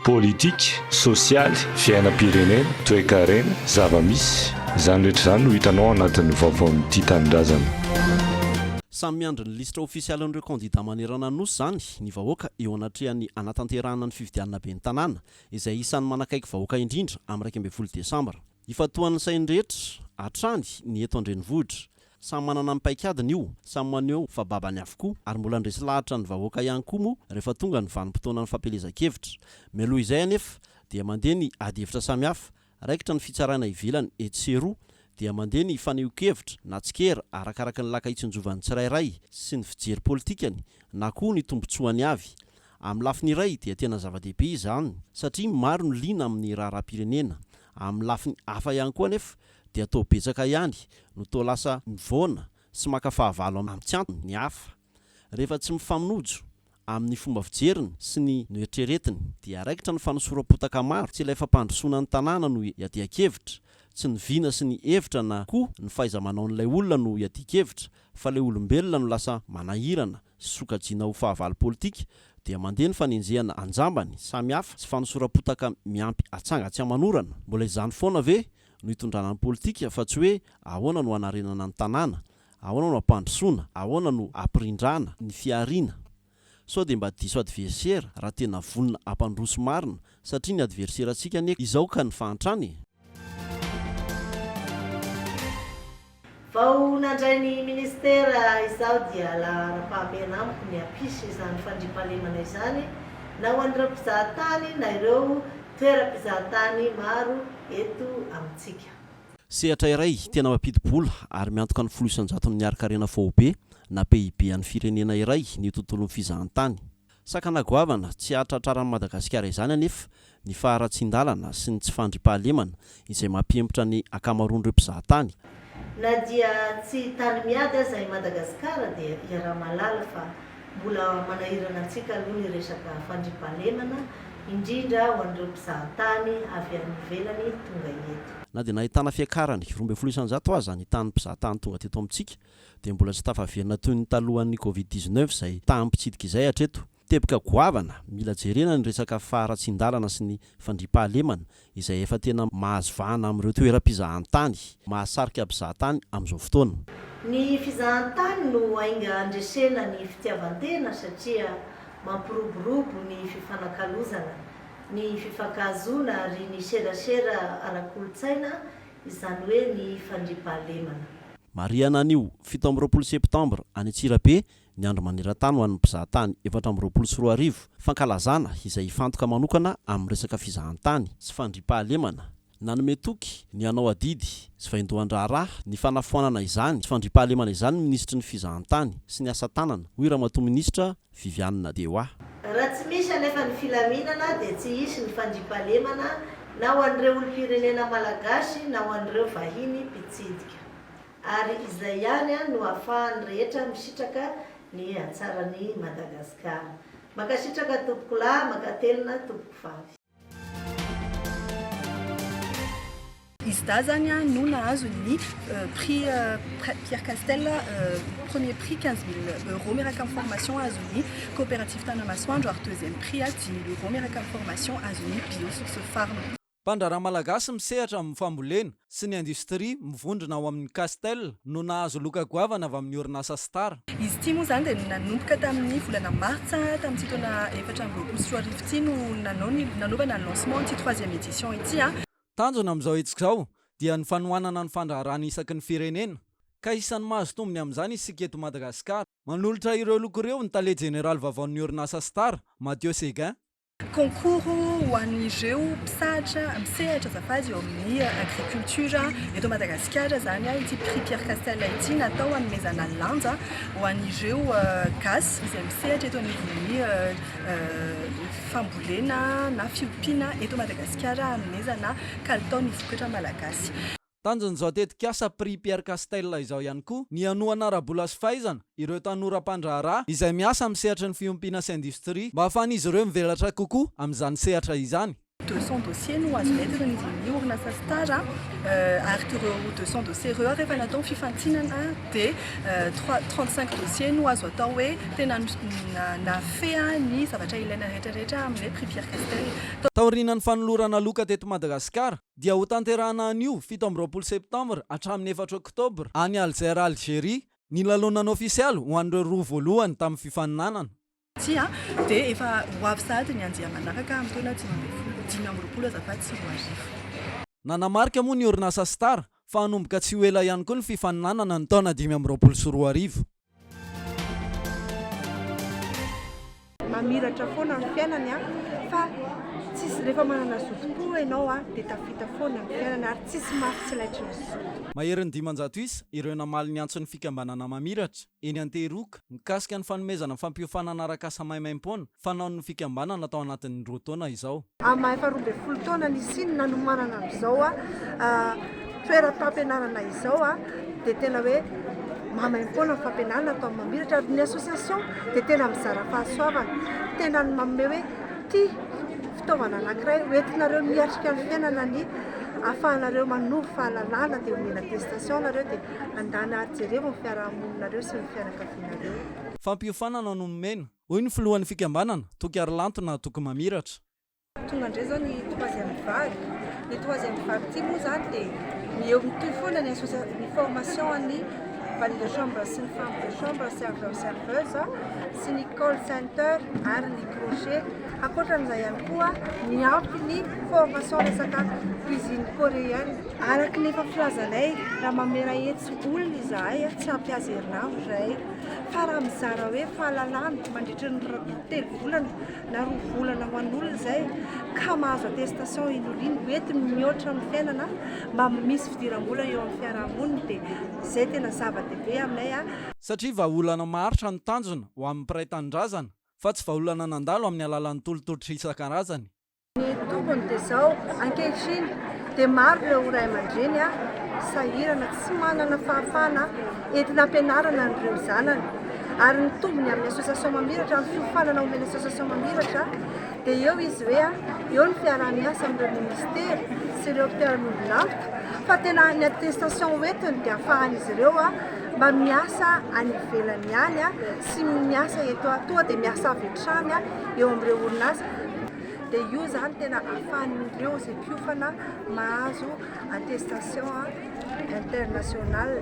Politika, sosialy, fiainam-pirenena, toekarena, zava-misy. Izany rehetra izany no hitanao ao anatin'ny vaovaon'ity Tanindrazana. Samy miandry ny lisitra ofisialin'ireo kandidà manerana ny Nosy izany ny vahoaka eo anatrehan'ny hanatanterahana ny fifidianana ben'ny Tanàna, izay isan'ny manakaiky vahoaka indrindra amin'ny iraika ambin'ny folo desambra. Ifantohan'ny sain'ny rehetra hatrany ny eto an-drenivohitra. Samy manana ny paikadiny io, samy maneho fa babany avokoa ary mbola handresy lahatra ny vahoaka ihany koa moa rehefa tonga ny vanim-potoanan'ny fampielezan-kevitra. Mialoha izay anefa dia mandeha ny adihevitra samihafa, raikitra ny fitsarana ivelany etsy sy eroa dia mandeha ny fanehoan-kevitra na tsikera arakaraka ny laka itsinjovan'ny tsirairay sy ny fijery politikany na koa ny tombotsoany avy. Amin'ny lafiny iray dia tena zava-dehibe izany satria maro no liana amin'ny raharaham-pirenena Amin'ny lafiny hafa ihany koa anefa dia toa betsaka ihany no toa lasa mivoana sy maka fahavalo amin'ny tsy antony ny hafa. Rehefa tsy mifamnojo amin'ny fomba fijeriny sy ny noeritreretiny dia raikitra ny fanosoram-potaka maro, tsy ilay fampandrosoana ny tanàna no iadian-kevitra, tsy ny vina sy ny hevitra na koa ny fahaiza-manaon'ilay olona no iadian-kevitra fa ilay olombelona no lasa manahirana sokajiana ho fahavalo politika, dia mandeha ny fanenjehana an-jambany samihafa sy fanosoram-potaka miampy atsanga tsy aman'orana. Mbola izany foana ve no hitondrana ny politika fa tsy hoe ahoana no hanarenana ny tanàna, ahoana no hampandrosoana, ahoana no hampirindrana ny fihariana? Sao dia mba diso adversera raha tena vonona hampandroso marina satria ny adverserantsika anie izao ka ny fahantrana e! Vao nandray ny ministera izaho dia laharam-pahamehana amiko ny hampisy izany fandriampahalemana izany na ho an'ireo mpizahatany na ireo toeram-pizahatany maro eto amintsika. Sehatra iray tena mampidi-bola ary miantoka ny folo isan-jaton'ny harin-karena faobe na PIB an'ny firenena iray ny tontolon'ny fizahantany. Sakana goavana tsy hahatratraran'i Madagasikara izany anefa ny faharatsian-dalana sy ny tsy fandriampahalemana izay mampihemotra ny ankamaroan'ireo mpizaha tany. Na dia tsy tany miady aza i Madagasikara dia iaraha-mahalala fa mbola manahirana antsika aloha ny resaka fandriampahalemana, indrindra ho an'ireo mpizaha tany avy any ivelany tonga eto. Na dia nahitana fiakarany roa ambin'ny folo isanjato aza ny tanin'ny mpizaha tany tonga teto amintsika dia mbola tsy tafaverina toy ny talohan'ny covid dix neuf izay taham-pitsidika izay hatreto. Teboka goavana, mila jerena ny resaka faharatsian-dalana sy ny fandriampahalemana izay efa tena mahazo vahana amin'ireo toeram-pizahantany mahasarika mpizahatany amin'izao fotoana. Ny fizahantany no ainga handresena ny fitiavan-tena satria mampiroborobo ny fifanakalozana, ny fifankahazoana ary ny serasera ara-kolontsaina izany hoe ny fandriampahalemana. Marihana anio fito amby roapolo septambra any Antsirabe ny Andro maneran-tany ho an'ny mpizahatany efatra amby roapolo sy roa arivo, fankalazana izay hifantoka manokana amin'ny resaka fizahantany sy fandriampahalemana. Nanome toky ny hanao adidy sy vaindohan-draharaha ny fanafoanana izany fandriampahalemana izany ny minisitry ny Fizahantany sy ny asa tanana, hoy Ramatoa Minisitra Viviane de Oà. Raha tsy misy anefa ny filaminana dia tsy hisy ny fandriampahalemana na ho an'ireo olom-pirenena malagasy na ho an'ireo vahiny mpitsidika. Ary izay ihany no hahafahan'ny rehetra misitraka ny hatsaran'i Madagasikara. Mankasitraka tompokolahy, mankatelina tompoko vavy. Izy dahy zany a no nahazo ny prix Pierre Castel premier prix quinze mille euros miaraka amin'ny formation azon'ny coopérative Tanamasoandro ary deuxième prix a dimy mille euros miaraka amin'ny formation azon'ny Bio Source Farm. Mpandraharaha malagasy misehatra amin'ny fambolena, sy ny industrie mivondrona ao amin'ny Castel no nahazo loka goavana avy amin'ny orinasa Star. Izy ity moa izany dia nanomboka tamin'ny volana martsa tamin'ity taona efatra amby roapolo sy roa arivo ity no nanao ny nanaovana ny lancement ity troisième édition ity. Tanjona amin'izao hetsika izao dia ny fanohanana ny fandraharahana isaky ny firenena ka isan'ny mahazo tombony amin'izany isika eto Madagasikara. Manolotra ireo loka ireo ny tale jeneraly vavaon'ny orinasa Star, Mathieu Seguin. Concours ho an'ireo mpisahatra misehatra azafady eo amin'ny agriculture eto Madagasikara izany ity prix Pierre Castel ity natao hanomezana lanja ho an'ireo gasy izay misehatra eto anivon'ny fambolena na fiompiana eto Madagasikara hanomezana kalitao ny vokatra malagasy. Tanjon'izao tetikasa Prix Pierre Castel izao ihany koa ny hanohana ara-bola sy fahaizana ireo tanora mpandraharaha izay miasa amin'ny sehatry ny fiompiana sy indostria mba hahafahan'izy ireo mivelatra kokoa amin'izany sehatra izany. Deux cents dossiers no azo entin'izy amin'ny orinasa Star ary ireo deux cents dossiers ireo rehefa natao ny fifantinana dia trois, trente-cinq dossiers no azo atao hoe tena nafehan'ny zavatra ilaina rehetra rehetra amin'ilay Prix Pierre Castel. Taorian'ny fanolorana loka teto Madagasikara, dia ho tanterahana anio fito amby roapolo septambra hatramin'ny efatra oktobra any Alger, Algeria, ny lalonana ofisialy ho an'ireo roa voalohany tamin'ny fifaninanana. Tsia, dia efa ho avy sahady ny andiany manaraka amin'ny taona dimy ambin'ny folo, dimy amby roapolo azafady, sy roa arivo. Nanamarika moa ny orinasa Star fa hanomboka tsy ho ela ihany koa ny fifaninanana ny taona dimy amby roapolo sy roa arivo. Mamiratra foana ny fiainany a, fa tsisy rehefa manana zotom-po ianao a, dia tafita foana ny fiainana ary tsisy mafy tsy laitry ny zoto. Maherin'ny dimanjato isa ireo namaly ny antson'ny fikambanana Mamiratra, eny Antehiroka, mikasika ny fanomezana fampiofanana arak'asa maimaimpoana fanaon'ny fikambanana tao anatin'ny roa taona izao. Amin'ny maha efa roa ambin'ny folo taona nisian'ny nanomanana an'izao toeram-pampianarana izao dia tena hoe maimaim-poana ny fampianarana atao amin'ny mamiratra ary ny association dia tena mizara fahasoavana, tena manome hoe ity fitaovana anankiray ho entinareo miatrika ny fiainana ny ahafahanareo manovo fahalalana dia omena attestation nareo dia andana ary jerevy ny fiarahamoninareo sy ny fianakavianareo. Fampiofanana no nomena. Hoy ny filohan'ny fikambanana, Toky Harilantona Toky Mamiratra. Tonga indray izao ny troisième vague. Ny troisième vague ity moa izany dia ny eo mitohy foana ny association, ny formation an'ny valet de chambre sy ny femme de chambre, serveur, serveuse sy ny call center ary ny crochet. Ankoatran'izay ihany koa, miampy ny formation resaka cuisine coréenne. Araka ny efa filazanay, raha mamelahetsy olona izahay, tsy ampy azy herinandro izahay. Fa raha mizara hoe fahalalana mandritra ny telo volana na roa volana ho an'olona izay ka mahazo attestation inoliny hoentiny mihoatra amin'ny fiainana mba misy fidiram-bola eo amin'ny fiarahamoniny dia izay tena zava-dehibe aminay. Satria vahaolana maharitra no tanjona ho an'ny mpiray tanindrazana fa tsy vahaolana nandalo amin'ny alalan'ny tolo-tolotra isan-karazany. Ny tombony dia izao, ankehitriny dia maro ireo ray aman-dreny sahirana tsy manana fahafahana entina ampianarana an'ireo zanany ary ny tombony amin'ny association mamiratra, ny fiofanana omen'ny association mamiratra dia eo izy hoe eo ny fiaraha-miasa amin'ireo ministera sy ireo mpiara-miombon'antoka fa tena ny attestation hoentiny dia afahan'izy ireo mba miasa any ivelany ihany sy miasa eto toa dia miasa avy hatrany eo amin'ireo orinasa dia io izany tena ahafahan'ireo izay mpiofana mahazo attestation internationale.